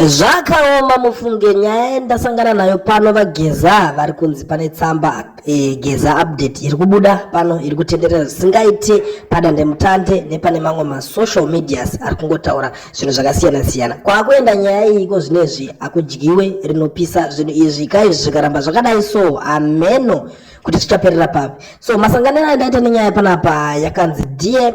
Zvakaoma mufunge nyaya yandasangana nayo pano vageza vari kunzi pane tsamba e, geza update iri kubuda pano iri kutenderera zvisingaite padandemutande nepane mamwe masocial medias ari kungotaura zvinhu zvakasiyana siyana kwakuenda nyaya iyi ko zvine izvi hakudyiwe rinopisa zvinhu izvi ka izvi zvikaramba zvakadai so hameno kuti zvichaperera papi so masanganiro andaita nenyaya panapa yakanzi dear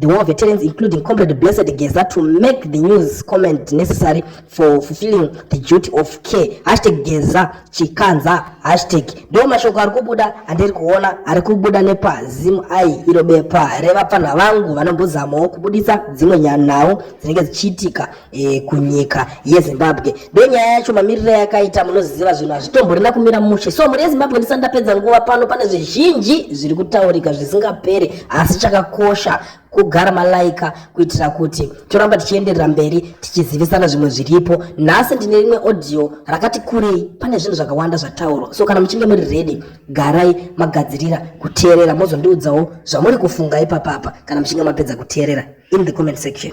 the war veterans including comrade blessed geza to make the news comment necessary for fulfilling the duty of care hashtag geza chikanza hashtag ndo mashoko ari kubuda andiri kuona ari kubuda nepazim ai iro bepa revapfanha vangu vanombozamawo kubudisa dzimwe nyanhau dzinenge dzichiitika e, kunyika yezimbabwe ndenyaya yacho mamiriro yakaita munoziva zvinhu hazvitomborina kumira mushe so mhuri yezimbabwe ndisati ndapedza nguva pano pane zvizhinji zviri kutaurika zvisingaperi asi chakakosha kugara malaika kuitira kuti toramba tichienderera mberi tichizivisana zvimwe zviripo nhasi ndine rimwe audio rakati kurei pane zvinhu zvakawanda zvataurwa so kana muchinge muri redi garai magadzirira kuteerera mozondiudzawo zvamuri kufunga ipapapa kana muchinge mapedza kuteerera in the comment section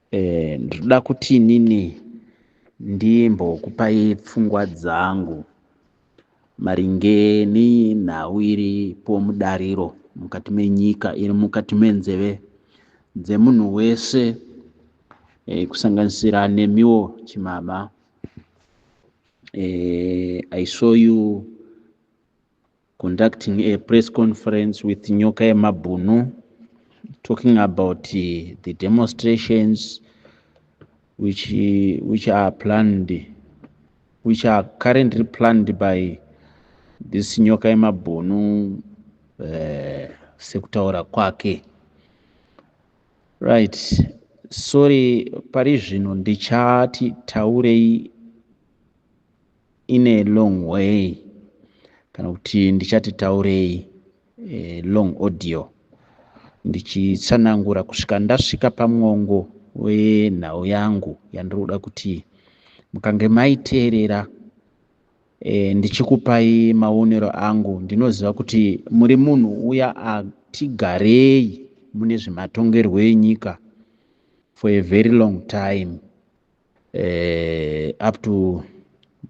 Eh, ndinoda kuti inini ndimbokupai pfungwa dzangu maringe nenhau iri pomudariro mukati menyika iri mukati menzeve dzemunhu wese eh, kusanganisira nemiwo chimama eh, i saw you conducting a press conference with nyoka yemabhunu talking about uh, the demonstrations which, uh, which are planned which are currently planned by this nyoka yemabhunu uh, sekutaura kwake right sorry pari zvino ndichati taurei in a long way kana kuti ndichati taurei e, long audio ndichitsanangura kusvika ndasvika pamwongo wenhau yangu yandiri kuda kuti mukange maiteerera e, ndichikupai maonero angu ndinoziva kuti muri munhu uya atigarei mune zvematongerwo enyika for a very long time uh, up to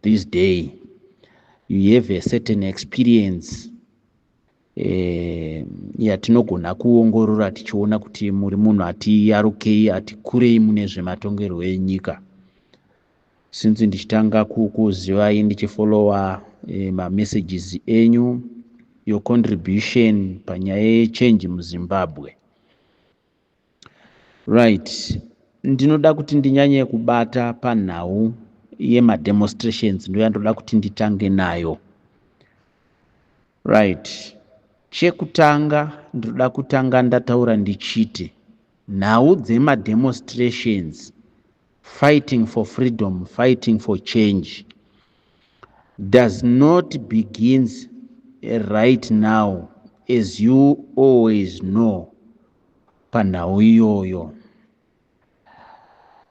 this day you have a certain experience eh, yatinogona yeah, kuongorora tichiona kuti muri munhu atiyarukei atikurei mune zvematongerwo enyika since ndichitanga kukuzivai ndichifollowa eh, mamessages enyu your contribution panyaya yechange muzimbabwe Right. Ndinoda kuti ndinyanye kubata panhau yemademonstrations ndoyandoda kuti nditange nayo. Right. Chekutanga ndinoda kutanga ndataura ndichiti nhau dzemademonstrations Fighting for freedom, fighting for change does not begins right now as you always know panhau iyoyo.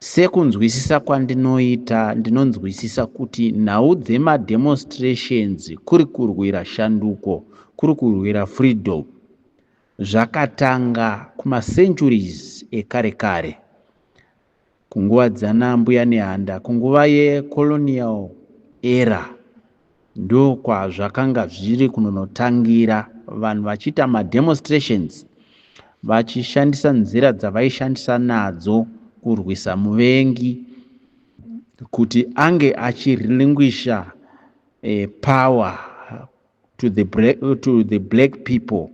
Sekunzwisisa kwandinoita ndinonzwisisa kuti nhau dzemademonstrations kuri kurwira shanduko kuri kurwira freedom zvakatanga kumacenturies ekare kare Kunguva dzana mbuya Nehanda kunguva ye colonial era ndokwazvakanga zviri kunonotangira vanhu vachiita ma demonstrations vachishandisa nzira dzavaishandisa nadzo kurwisa muvengi kuti ange achirelinquisha eh, power to the, to the black people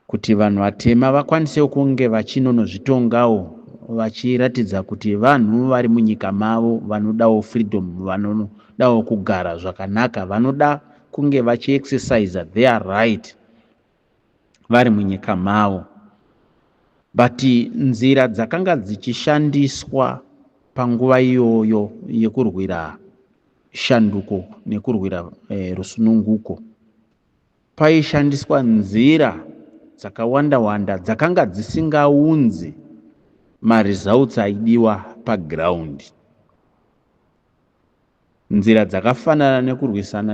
kuti vanhu vatema vakwanisewo kunge vachinonozvitongawo vachiratidza kuti vanhu vari munyika mavo vanodawo freedom vanodawo kugara zvakanaka vanoda kunge vachiexercise their right vari munyika mavo but nzira dzakanga dzichishandiswa panguva iyoyo yekurwira shanduko nekurwira eh, rusununguko paishandiswa nzira dzakawanda wanda dzakanga dzisingaunzi maresults aidiwa paground Nzira dzakafanana nekurwisana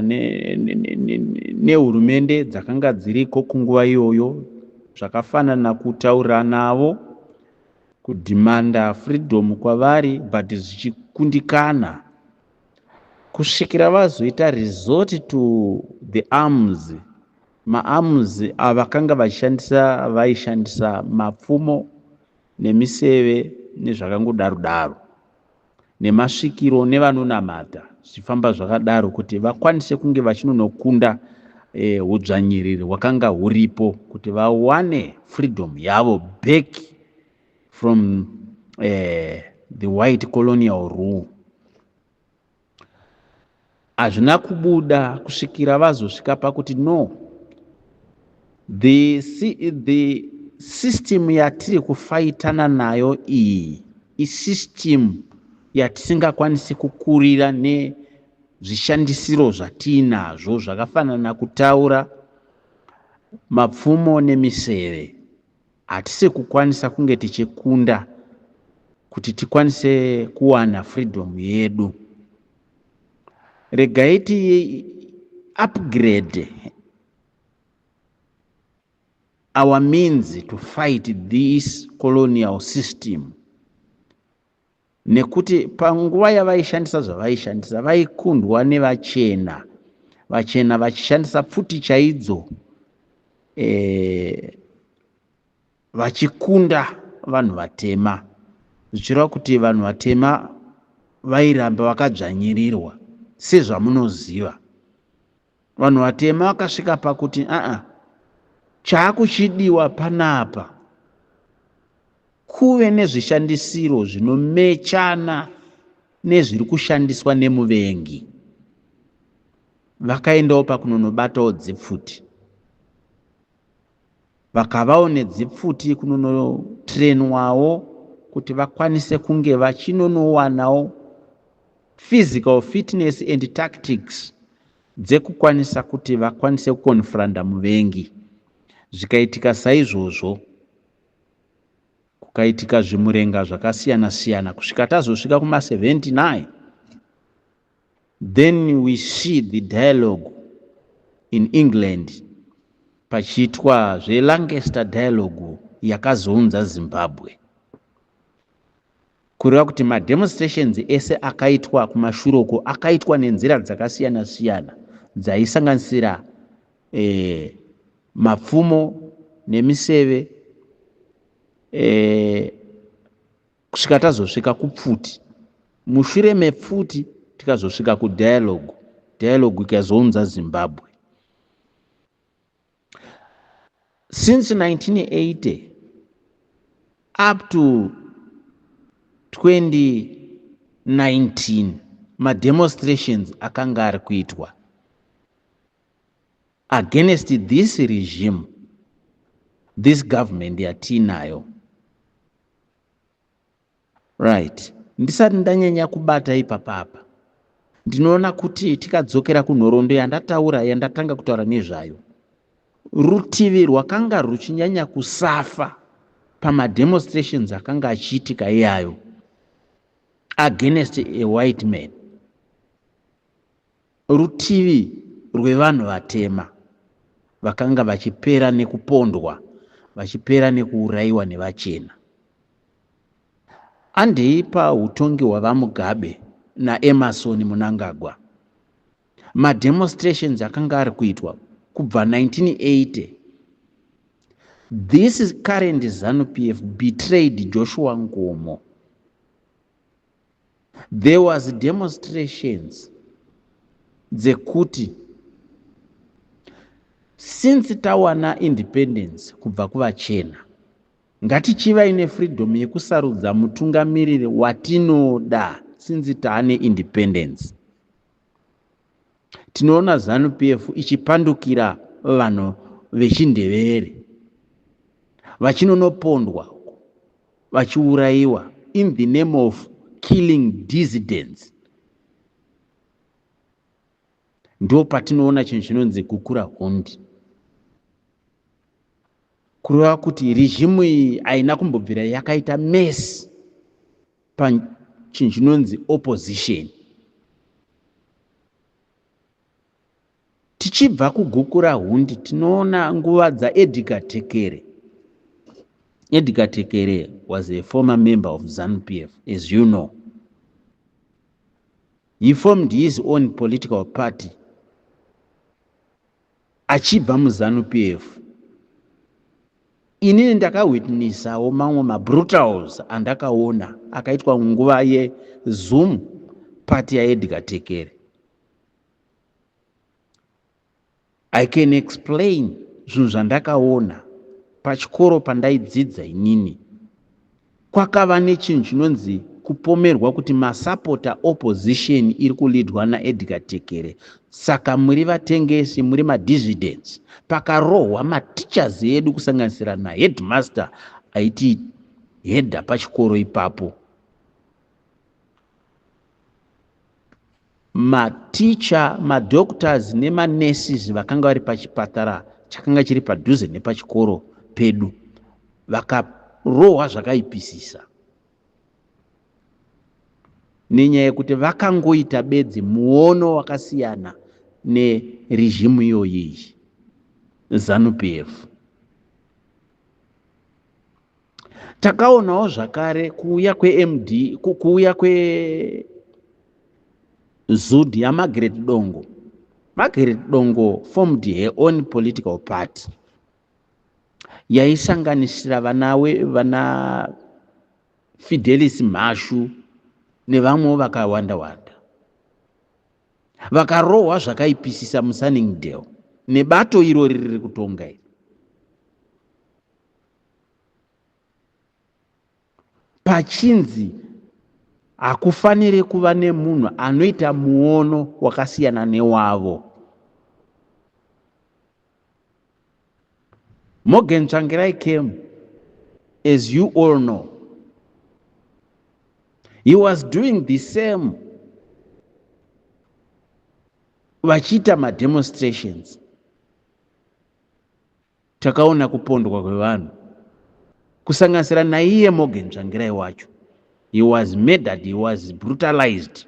nehurumende ne, ne, ne dzakanga dziriko kunguva iyoyo zvakafanana kutaura navo kudhimanda freedom kwavari but zvichikundikana kusvikira vazoita resort to the arms maarms avakanga vachishandisa vaishandisa mapfumo nemiseve nezvakangodaro daro nemasvikiro nevanonamata zvichifamba zvakadaro kuti vakwanise kunge vachinonokunda eh, hudzvanyiriri hwakanga huripo kuti vawane freedom yavo back from eh, the white colonial rule Hazvina kubuda kusvikira vazosvika pakuti no the, the system yatiri kufaitana nayo iyi isystem yatisingakwanisi kukurira nezvishandisiro zvatiinazvo zvakafanana kutaura mapfumo nemiseve Hatisi kukwanisa kunge tichikunda kuti tikwanise kuwana freedom yedu. Regai ti upgrade our means to fight this colonial system. nekuti panguva yavaishandisa zvavaishandisa vaikundwa nevachena vachena vachishandisa pfuti chaidzo e, vachikunda vanhu vatema zvichireva kuti vanhu vatema vairamba vakadzvanyirirwa sezvamunoziva Vanhu vatema vakasvika pakuti aa chaakuchidiwa panapa kuve nezvishandisiro zvinomechana nezviri kushandiswa nemuvengi. Vakaendawo pakunonobatawo dzipfuti. vakavawo nedzipfuti kunonotrenwawo kuti vakwanise kunge vachinonowanawo physical fitness and tactics dzekukwanisa kuti vakwanise kukonfranda muvengi zvikaitika saizvozvo kukaitika zvimurenga zvakasiyana siyana kusvika tazosvika kuma 79 Then we see the dialogue in England pachiitwa zve Lancaster dialogue yakazounza Zimbabwe kureva kuti mademonstrations ese akaitwa kumashure uko akaitwa nenzira dzakasiyana siyana dzaisanganisira eh, mapfumo nemiseve eh, kusvika tazosvika kupfuti mushure mepfuti tikazosvika kudialogue dialogue ikazounza zimbabwe since 1980 up to 2019 mademonstrations akanga ari kuitwa against this regime this government yatiinayo right ndisati ndanyanya kubata ipapapa ndinoona kuti tikadzokera kunhoroondo yandataura yandatanga kutaura nezvayo rutivi rwakanga ruchinyanya kusafa pamademonstrations akanga achiitika iyayo against a white man Rutivi rwevanhu vatema vakanga vachipera nekupondwa, vachipera nekuurayiwa nevachena. Andei pahutongi hwaVaMugabe naEmmerson Mnangagwa, mademonstrations akanga ari kuitwa kubva 1980 This is current Zanu PF betrayed Joshua Nkomo. There was demonstrations dzekuti since tawana independence kubva kuvachena ngatichivai nefreedom yekusarudza mutungamiriri watinoda since taane independence tinoona zanu pf ichipandukira vanhu vechindevere vachinonopondwa vachiurayiwa in the name of killing dissidents ndo patinoona chinhu chinonzi kukura hondi kureva kuti regimu iyi haina kumbobvira yakaita mesi pachinhu chinonzi opposition tichibva kugukura hundi tinoona nguva dzaedgar tekere edgar tekere was a former member of zanu p f as you know he formed his own political party achibva muzanu PF inini ndakawitnissawo mamwe mabrutals andakaona akaitwa nguva yezoom party yaedgar tekere i can explain zvinhu zvandakaona pachikoro pandaidzidza inini Kwakava nechinhu chinonzi kupomerwa kuti masapota opposition iri kulidwa naEdgar Tekere saka muri vatengesi, muri madissidents. Pakarohwa mateachers edu kusanganisira naheadmaster aiti header pachikoro ipapo. maticha madoctors nemanurses vakanga vari pachipatara chakanga chiri padhuze nepachikoro pedu vakarohwa zvakaipisisa nenyaya yekuti vakangoita bedzi muono wakasiyana neregimu iyoyi zanupf takaonawo zvakare kuuya kwemd kuuya kwezud yamagret dongo magret dongo formed her own political party yaisanganisira vanawe vana fidelis mhashu nevamwewo vakawanda wanda vakarohwa zvakaipisisa musunningdale nebato iro riri riri kutonga iri pachinzi hakufanire kuva nemunhu anoita muono wakasiyana newavo morgan tsvangirai came as you all know he was doing the same vachiita mademonstrations Takaona kupondwa kwevanhu kusanganisira naiye Morgan Tsvangirai wacho. He was murdered, he was brutalized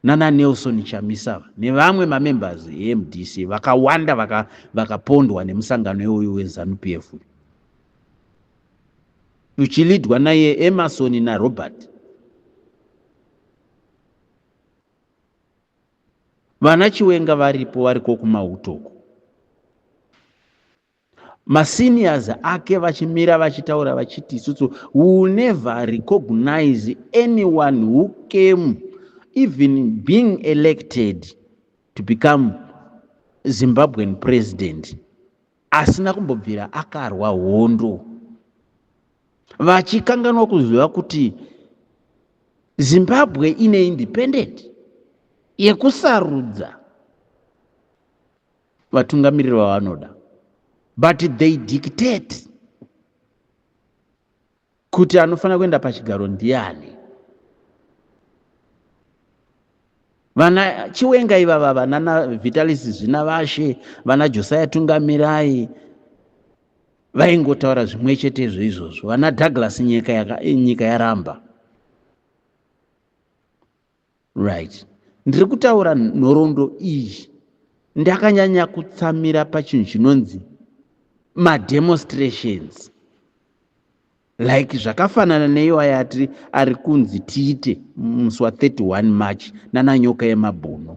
nana Nelson Chamisa nevamwe mamembers eMDC vakawanda vaka, vakapondwa nemusangano iwoyu weZanu PF uchilidwa naiye Emerson naRobert. Vana Chiwenga varipo variko kumauto uko. Maseniors ake vachimira vachitaura vachiti isusu will never recognize anyone who came even being elected to become Zimbabwean president. asina kumbobvira akarwa hondo vachikanganwa kuziva kuti zimbabwe ine independent yekusarudza vatungamiriri vavanoda but they dictate kuti anofanira kuenda pachigaro ndiani vana chiwenga ivava vanana vitalis zvina vashe vana josiah tungamirai vaingotaura zvimwe chetezvo izvozvo vana douglas nyika, yaka, nyika yaramba Right. Ndiri kutaura nhoroondo iyi ndakanyanya kutsamira pachinhu chinonzi mademonstrations like zvakafanana neiwa yati ari kunzi tiite musi wa 31 march nananyoka yemabhuno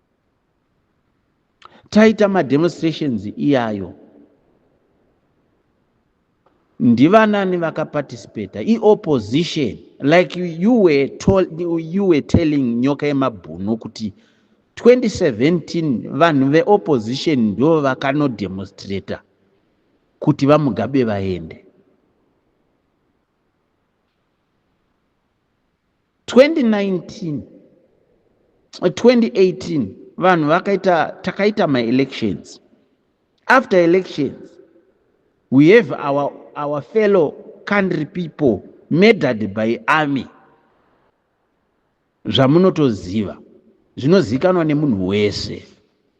taita mademonstrations iyayo ndivanani vakaparticipata iopposition like you were, told, you were telling nyoka yemabhuno kuti 2017 vanhu veopposition ndo vakanodemonstrata kuti vamugabe vaende 2019 2018 vanhu vakaita takaita maelections after elections we have our, our fellow country people murdered by army zvamunotoziva zvinozivikanwa nemunhu wese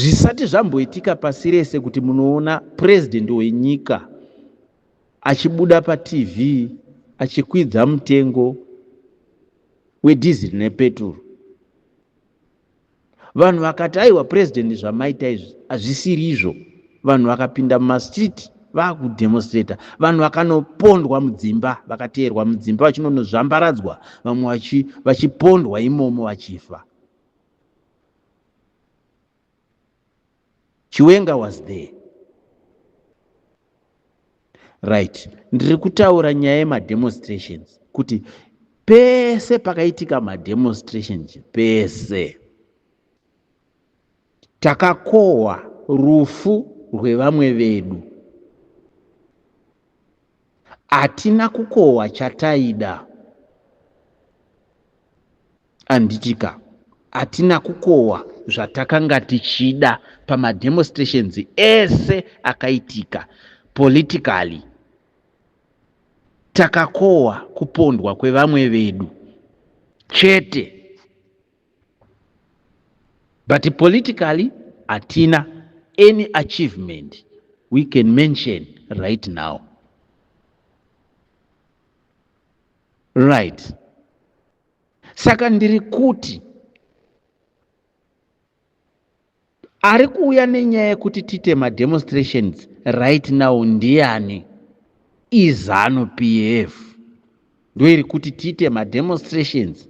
Zvisati zvamboitika pasi rese kuti munoona president wenyika achibuda patv achikwidza mutengo wedhiziri nepeturu. Vanhu vakati aiwa president zvamaita izvi hazvisiri izvo. Vanhu vakapinda mumastreet vakudemonstrator. Vanhu vakanopondwa mudzimba, vakateerwa mudzimba vachinonozvambaradzwa, vamwe vachipondwa imomo vachifa. Chiwenga was there. Right. Ndiri kutaura nyaya yemademonstrations kuti pese pakaitika mademonstrations pese takakohwa rufu rwevamwe vedu hatina kukohwa chataida Anditika atina kukohwa zvatakanga tichida pamademostrations ese akaitika politically. Takakohwa kupondwa kwevamwe vedu chete but politically hatina any achievement we can mention right now right saka ndiri kuti ari kuuya nenyaya yekuti tiite mademonstrations right now ndiani izanu p f ndoiri kuti tiite mademonstrations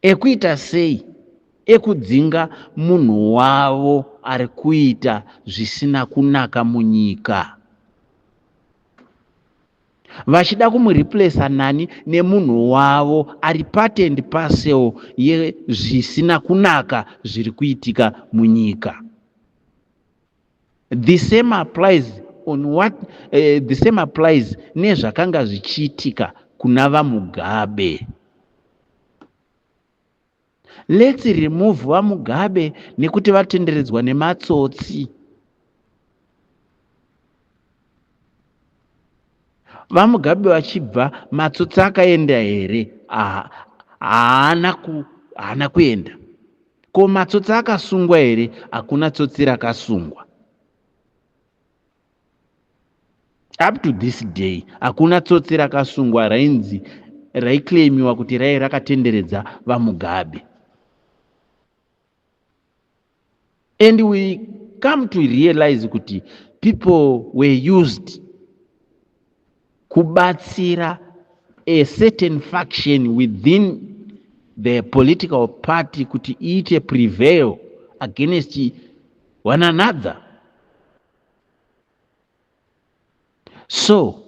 ekuita sei ekudzinga munhu wavo ari kuita zvisina kunaka munyika vachida kumureplacer nani nemunhu wavo ari part and parcel yezvisina kunaka zviri kuitika munyika the same applies on what uh, the same applies nezvakanga zvichiitika kuna vamugabe Let's remove vaMugabe nekuti vatenderedzwa nematsotsi. VaMugabe vachibva matsotsi akaenda here? Aha, haana ku haana kuenda. Ko matsotsi akasungwa here? Hakuna tsotsi rakasungwa. up to this day hakuna tsotsi rakasungwa rainzi raiclaimiwa kuti raive rakatenderedza vamugabe and we come to realize kuti people were used kubatsira a certain faction within the political party kuti iite prevail against one another so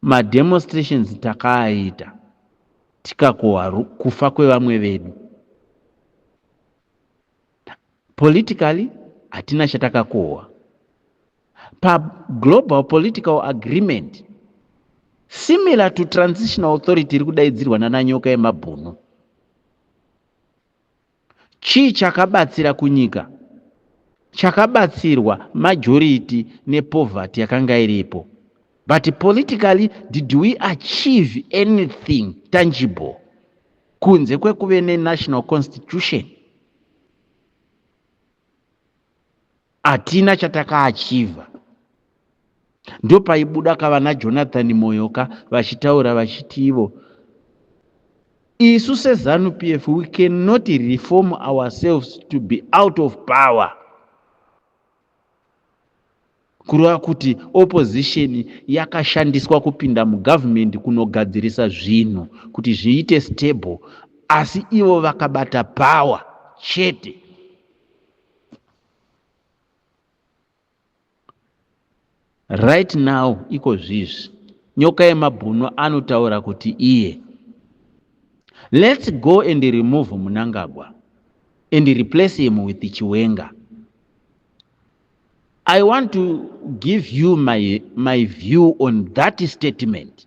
mademonstrations takaaita tikakohwa ru- kufa kwevamwe vedu politically hatina chatakakohwa paglobal political agreement similar to transitional authority iri kudaidzirwa nananyoka yemabhunu Chii chakabatsira kunyika? Chakabatsirwa majority ne poverty yakanga iripo but politically did we achieve anything tangible kunze kwekuve ne national constitution? hatina chatakaachiva ndopaibuda ka vana jonathan moyoka vachitaura vachiti ivo isu sezanu p f we cannot reform ourselves to be out of power kureva kuti opposition yakashandiswa kupinda mugovernment kunogadzirisa zvinhu kuti zviite stable asi ivo vakabata power chete right now iko zvizvi nyoka yemabhunu anotaura kuti iye let's go and remove munangagwa and replace him with chiwenga i want to give you my, my view on that statement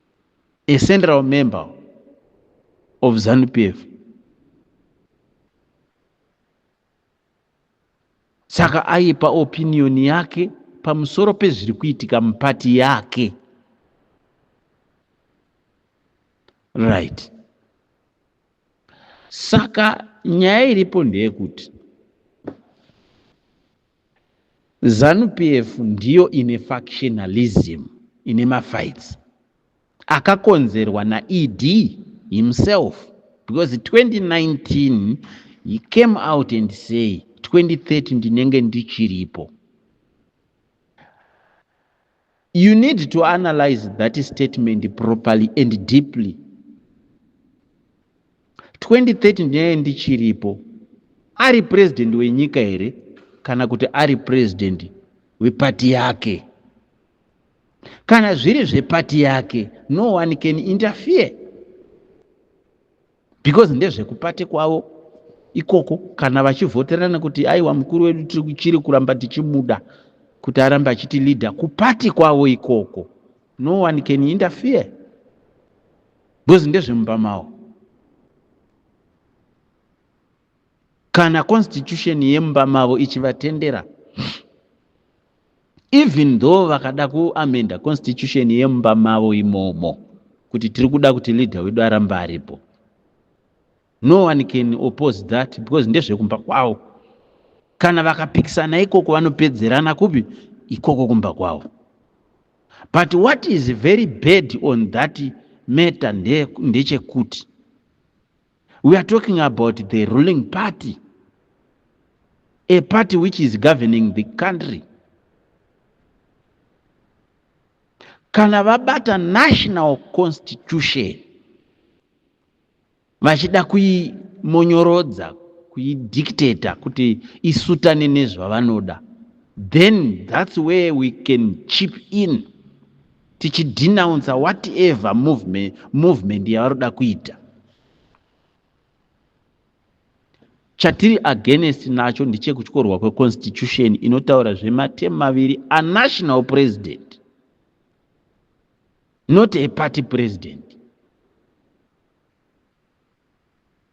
a central member of zanupf saka aipa opinion yake pamusoro pezviri kuitika mupati yake right saka nyaya iripo ndeyekuti Zanu PF ndiyo ine factionalism ine mafights akakonzerwa na ED himself because 2019 he came out and say 2030 ndinenge ndichiripo You need to analyze that statement properly and deeply. 2030 ndiye ndichiripo. Ari president wenyika here kana kuti ari president wepati yake? Kana zviri zvepati yake, no one can interfere. because ndezvekupate kwavo ikoko kana vachivhoterana kuti aiwa mukuru wedu tiri kuchiri kuramba tichimuda kuti arambe achiti leader kupati kwavo ikoko no one can interfere because ndezvemumba mavo kana constitution yemumba mavo ichivatendera even though vakada kuamenda constitution yemumba mavo imomo kuti tiri kuda kuti leader wedu aramba aripo no one can oppose that because ndezvekumba kwavo kana vakapikisana ikoko vanopedzerana kupi ikoko kumba kwavo but what is very bad on that matter ndechekuti nde We are talking about the ruling party, a party which is governing the country. Kana vabata national constitution vachida kuimonyorodza, kuidictator kuti isutane nezvavanoda, then that's where we can chip in. tichidenouncer whatever movement, movement yavari kuda kuita chatiri against nacho ndechekutyorwa kweconstitution inotaura zvematemu maviri anational president not a party president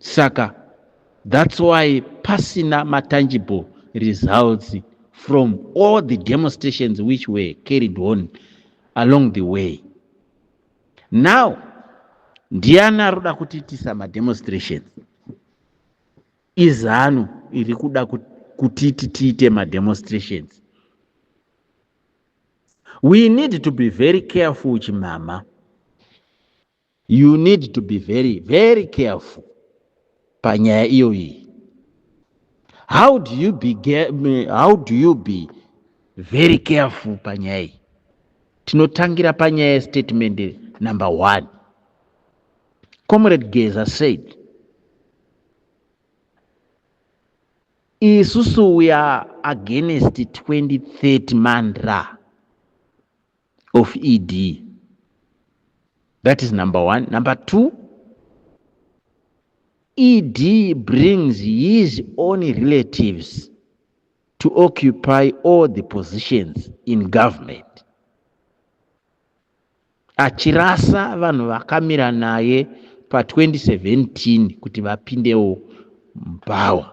Saka that's why pasina matangible results from all the demonstrations which were carried on along the way. Now, ndiani ari kuda kutiitisa mademonstrations? Izanu iri kuda kutiti tiite mademonstrations. We need to be very careful chimama. You need to be very very careful panyaya iyoyi. How do you be how do you be very careful panyaya iyi? Tinotangira panyaya statement number one. Comrade Geza said isusu we are against 2030 mandra of ED. That is number one. Number two, ED brings his own relatives to occupy all the positions in government. Achirasa vanhu vakamira naye pa 2017 kuti vapindewo power.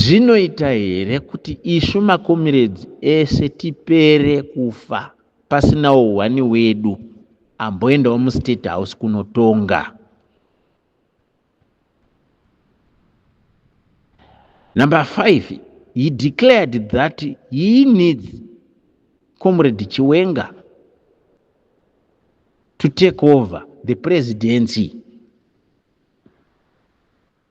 Zvinoita here kuti isu makomiredzi ese tipere kufa pasinawo hwani wedu amboendawo mustate house kunotonga? Number five, he declared that he needs Comrade Chiwenga to take over the presidency.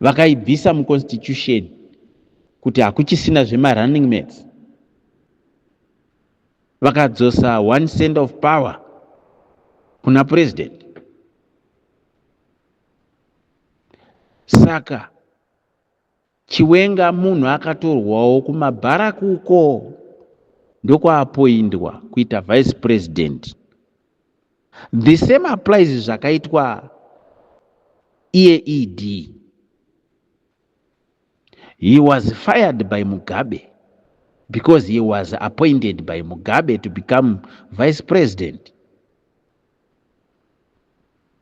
vakaibvisa muconstitution kuti hakuchisina zvemarunning mates vakadzosa one cent of power kuna president saka Chiwenga munhu akatorwawo kumabharak uko ndokwaapoindwa kuita vice president. The same applies zvakaitwa iye ED. He was fired by Mugabe because he was appointed by Mugabe to become vice president.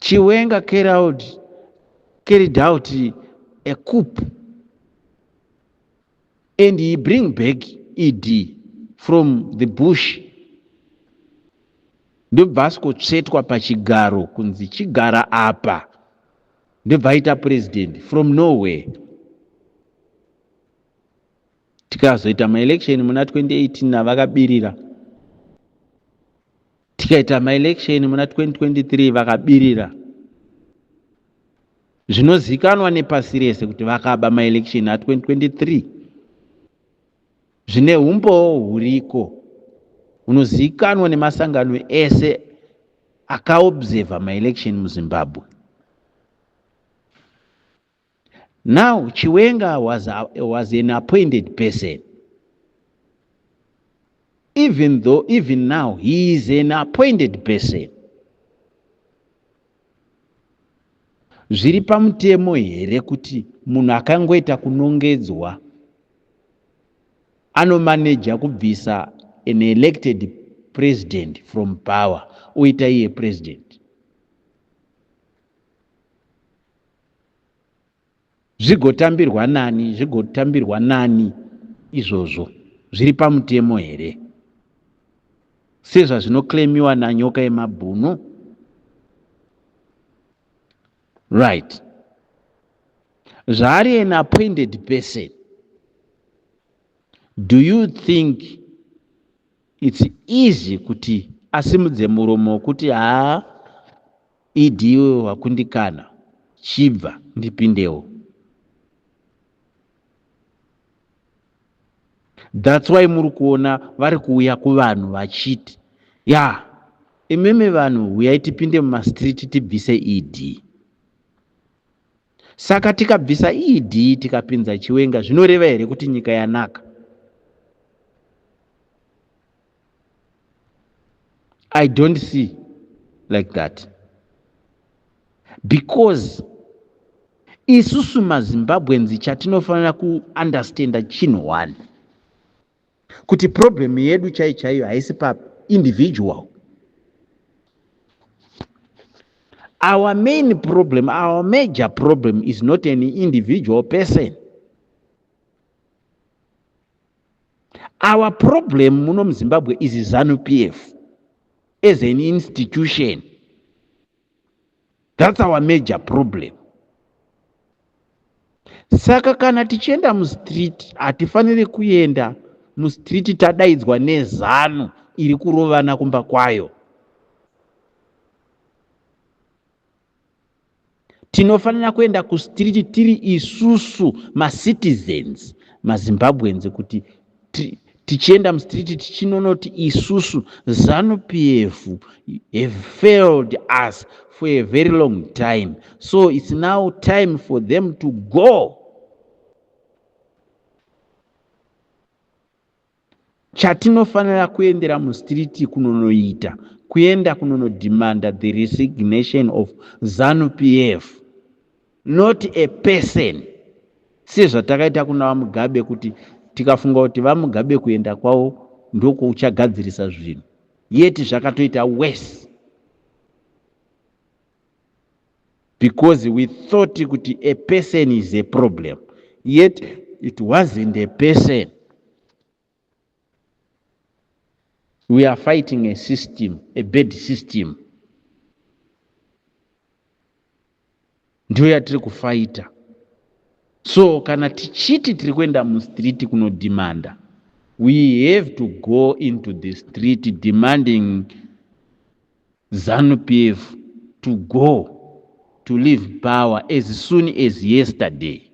Chiwenga carried, carried out a coup and he bring back ED from the bush ndobva asikotsvetwa pachigaro kunzi chigara apa ndobva aita president from nowhere tikazoita maelection muna 2018 navakabirira tikaita maelection muna 2023 vakabirira zvinozikanwa nepasi rese kuti vakaba maelection a2023 zvine umbowo huriko unozikanwa nemasangano ese akaobserva maelection muzimbabwe Now Chiwenga was, a, was an appointed person. Even though, even now, he is an appointed person. Zviri pamutemo here kuti munhu akangoita kunongedzwa anomaneja kubvisa an elected president from power oita iye president? zvigotambirwa nani zvigotambirwa nani izvozvo zviri pamutemo here sezvazvinoclaimiwa nanyoka yemabhunu right zvaari an appointed person do you think It's easy kuti asimudze muromo wekuti haa ED iwe wakundikana chibva ndipindewo. That's why muri kuona vari kuuya kuvanhu vachiti ya imimi vanhu huyai tipinde mumastreet tibvise ED. Saka tikabvisa ED tikapinza Chiwenga zvinoreva here kuti nyika yanaka? I don't see like that because isusu mazimbabweans chatinofanira kuunderstanda chinhu one kuti problem yedu chai chaiyo haisi pa individual our main problem our major problem is not an individual person our problem muno muzimbabwe is zanu p f as an institution That's our major problem. Saka kana tichienda mustreet hatifanire kuenda mustreet tadaidzwa nezanu iri kurovana kumba kwayo. Tinofanira kuenda kustreet tiri isusu macitizens mazimbabweans kuti tichienda mustreet tichinonoti isusu zanu pf have failed us for a very long time so it's now time for them to go chatinofanira kuendera mustreet kunonoita kuenda kunonodemanda the resignation of zanu pf not a person sezvatakaita kuna vamugabe kuti tikafunga kuti vamugabe kuenda kwavo ndokuchagadzirisa zvinhu yeti zvakatoita worse because we thought kuti a person is a problem yet it wasn't a person We are fighting a system, a bad system. Ndiyo yatiri kufaita. So kana tichiti tiri kuenda mustreet kunodhimanda, we have to go into the street demanding ZANU PF to go to leave power as soon as yesterday.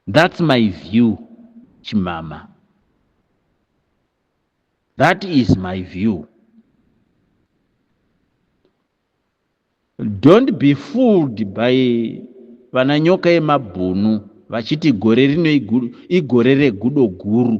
That's my view chimama. That is my view. Don't be fooled by vana nyoka yemabhunu vachiti gore rino igore regudo guru.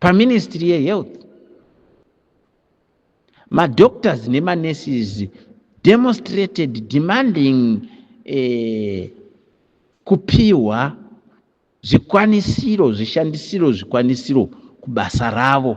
paministry yehealth madoctors nemanurses demonstrated demanding eh, kupiwa zvikwanisiro zvishandisiro zvikwanisiro kubasa ravo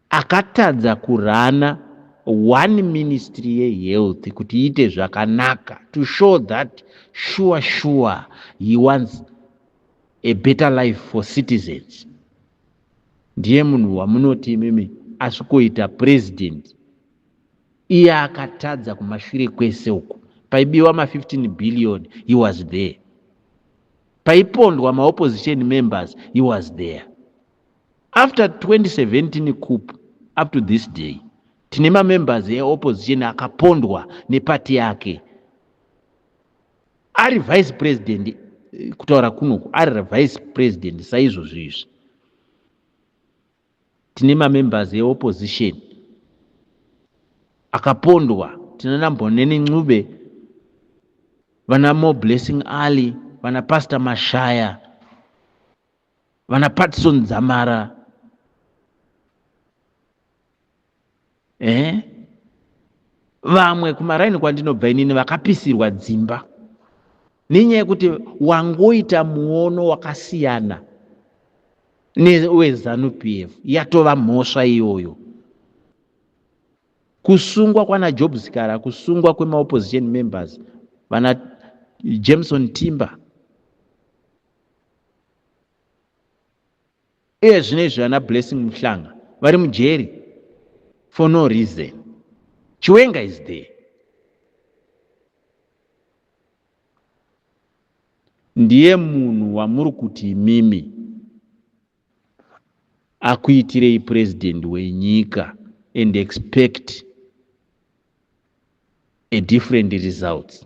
Akatadza kurunner one ministry ye health kuti iite zvakanaka to show that sure sure he wants a better life for citizens. Ndiye munhu wamunoti imimi asvikoita president iye akatadza kumashure kwese uku paibiwa ma 15 billion he was there paipondwa maopposition members he was there After 2017 coup up to this day tine mamembers eopposition akapondwa nepati yake ari vice president eh, kutaura kunoku ari vice president saizvozvo izvi tine mamembers eopposition akapondwa tinana mboneni ncube vana more blessing alley vana pastor mashaya vana patison dzamara eh? vamwe kumaraini kwandinobva inini vakapisirwa dzimba nenyaya yekuti wangoita muono wakasiyana newezanup f yatova mhosva iyoyo kusungwa kwana job zikara kusungwa kwemaopposition members vana jameson timber Uye zvino izvi vana Blessing Muhlanga vari mujeri for no reason. Chiwenga is there. Ndiye munhu wamuri kuti imimi akuitirei president wenyika and expect a different results.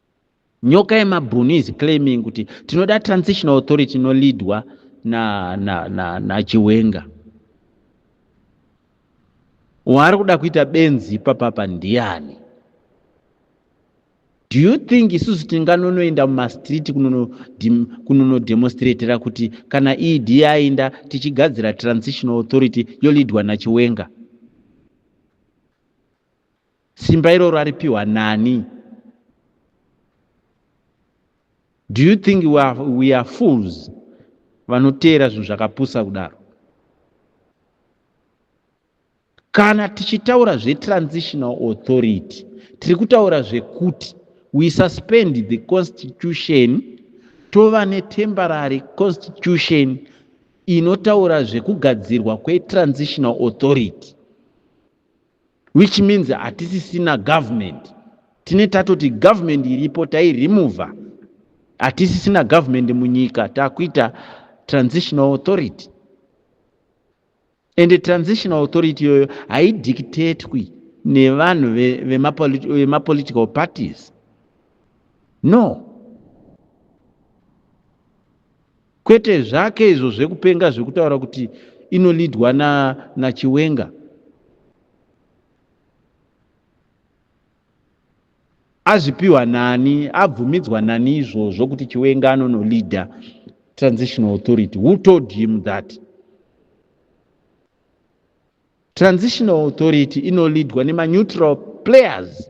Nyoka yemabhunu is claiming kuti tinoda transitional authority inoleadwa na, na, na, na Chiwenga. Waari kuda kuita benzi ipapapa ndiani? Do you think isusu tinganonoenda mumastreet kunonodemonstratera kuti kana ED yainda tichigadzira transitional authority yolidwa naChiwenga? Simba iroro aripiwa nani? Do you think we are, we are fools vanoteera zvinhu zvakapusa kudaro? Kana tichitaura zvetransitional authority tiri kutaura zvekuti we suspend the constitution tova netemporary constitution inotaura zvekugadzirwa kwetransitional authority which means hatisisina government tine tatoti government iripo tairemova hatisisina government munyika takuita transitional authority and transitional authority iyoyo haidictatwi nevanhu vemapolitical parties no kwete zvake izvo zvekupenga zvekutaura kuti inolidwa na nachiwenga azvipiwa nani abvumidzwa nani izvozvo kuti chiwenga anonolida transitional authority who told him that transitional authority inolidwa nemaneutral players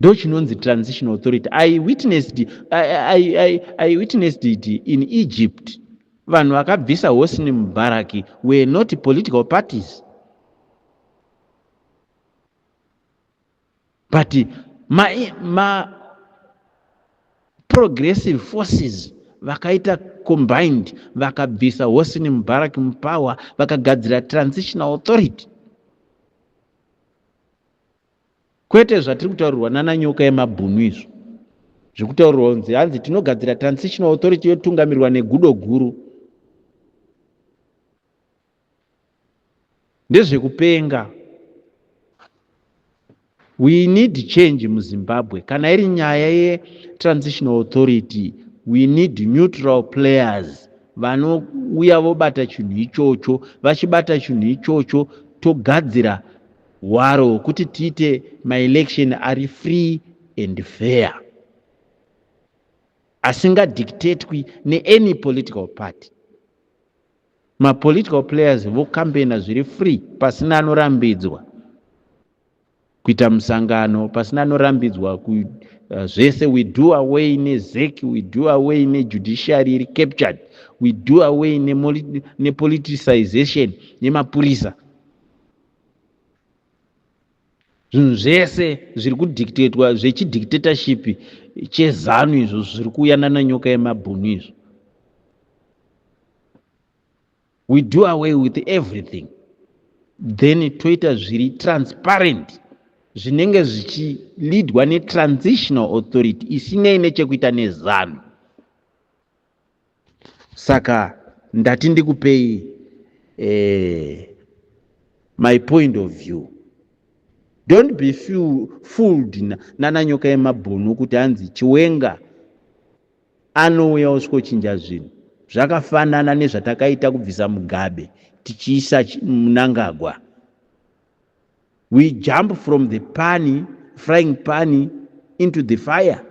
ndochinonzi transitional authority i witnessed i, I, I witnessed it in egypt vanhu vakabvisa hosni mubaraki were not political parties but ma, ma progressive forces vakaita combined vakabvisa hosni mubaraki mupower vakagadzira transitional authority Kwete zvatiri kutaurirwa nana nyoka yemabhunu izvo zvekutaurirwa kunzi hanzi tinogadzira transitional authority yotungamirwa negudo guru ndezvekupenga we need change muzimbabwe kana iri nyaya yetransitional authority we need neutral players vanouya vobata chinhu ichocho vachibata chinhu ichocho togadzira hwaro hwekuti tiite maelection ari free and fair asingadictatwi neany political party mapolitical players vokambeina zviri free pasina anorambidzwa kuita musangano pasina anorambidzwa ku, uh, zvese we do away nezec we do away nejudiciary iri captured we do away nepoliticization nemapurisa zvinhu zvese zviri kudictatwa zvechidictatorship chezanu izvo zviri kuuya nananyoka yemabhunu izvo we do away with everything then toita zviri transparent zvinenge zvichilidwa netransitional authority isinei nechekuita nezanu saka ndati ndikupei eh, my point of view don't be fooled nana nyoka yemabhunu kuti hanzi chiwenga anouya osvokochinja zvinhu zvakafanana nezvatakaita kubvisa mugabe tichiisa munangagwa We jump from the pani, frying pani into the fire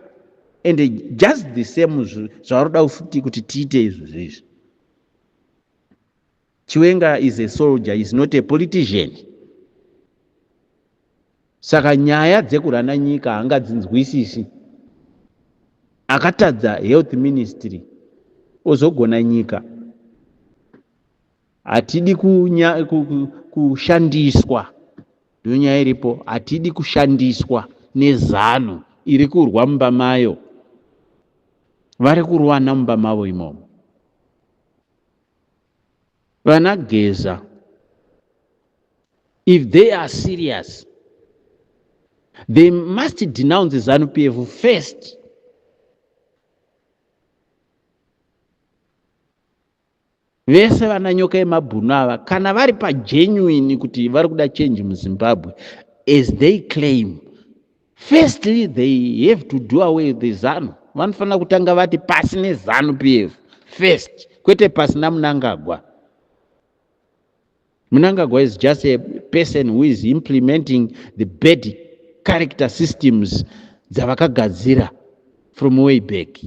and just the same zvavaroda futi kuti tiite izvo zvezvi. Chiwenga is a soldier, is not a politician. Saka nyaya dzekurana nyika hangadzinzwisisi. Akatadza health ministry ozogona nyika. Hatidi kunya, ku, ku, kushandiswa ndonyaya iripo, hatidi kushandiswa nezanu iri kurwa mumba mayo, vari kurwana mumba mavo imomo. Vana Geza, if they are serious, they must denounce ZANU PF first. vese vana nyoka yemabhunu ava kana vari pagenuine kuti vari kuda change muzimbabwe as they claim firstly they have to do away the zanu vanofanira kutanga vati pasi nezanu p f first kwete pasi namunangagwa munangagwa is just a person who is implementing the bad character systems dzavakagadzira from way back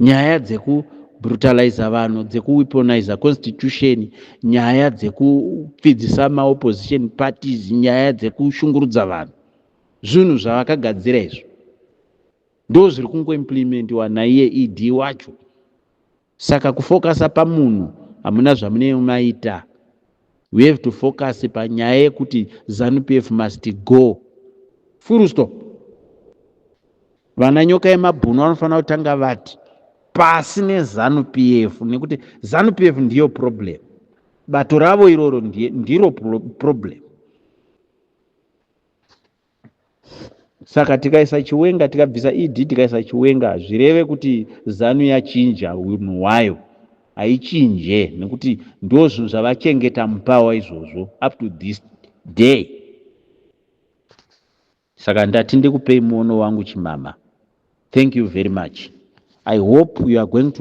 Nyaya dzeku brutalizer vanhu dzeku weaponizer constitution nyaya dzekupfidzisa maopposition parties nyaya dzekushungurudza vanhu zvinhu zvavakagadzira izvo ndo zviri kungoimplimentiwa naiye ed wacho saka kufokasa pamunhu hamuna zvamunemaita We have to focus panyaya yekuti Zanu PF must go. Full stop. Vana nyoka yemabhunu vanofanira kutanga vati pasi neZanu PF nekuti Zanu PF ndiyo problem. Bato ravo iroro ndiro problem. saka tikaisa chiwenga tikabvisa ed tikaisa chiwenga hazvireve kuti zanu yachinja unhu hwayo haichinje nekuti ndo zvinhu zvavachengeta mupawa izvozvo up to this day saka ndati ndikupei muono wangu chimama thank you very much i hope you are going to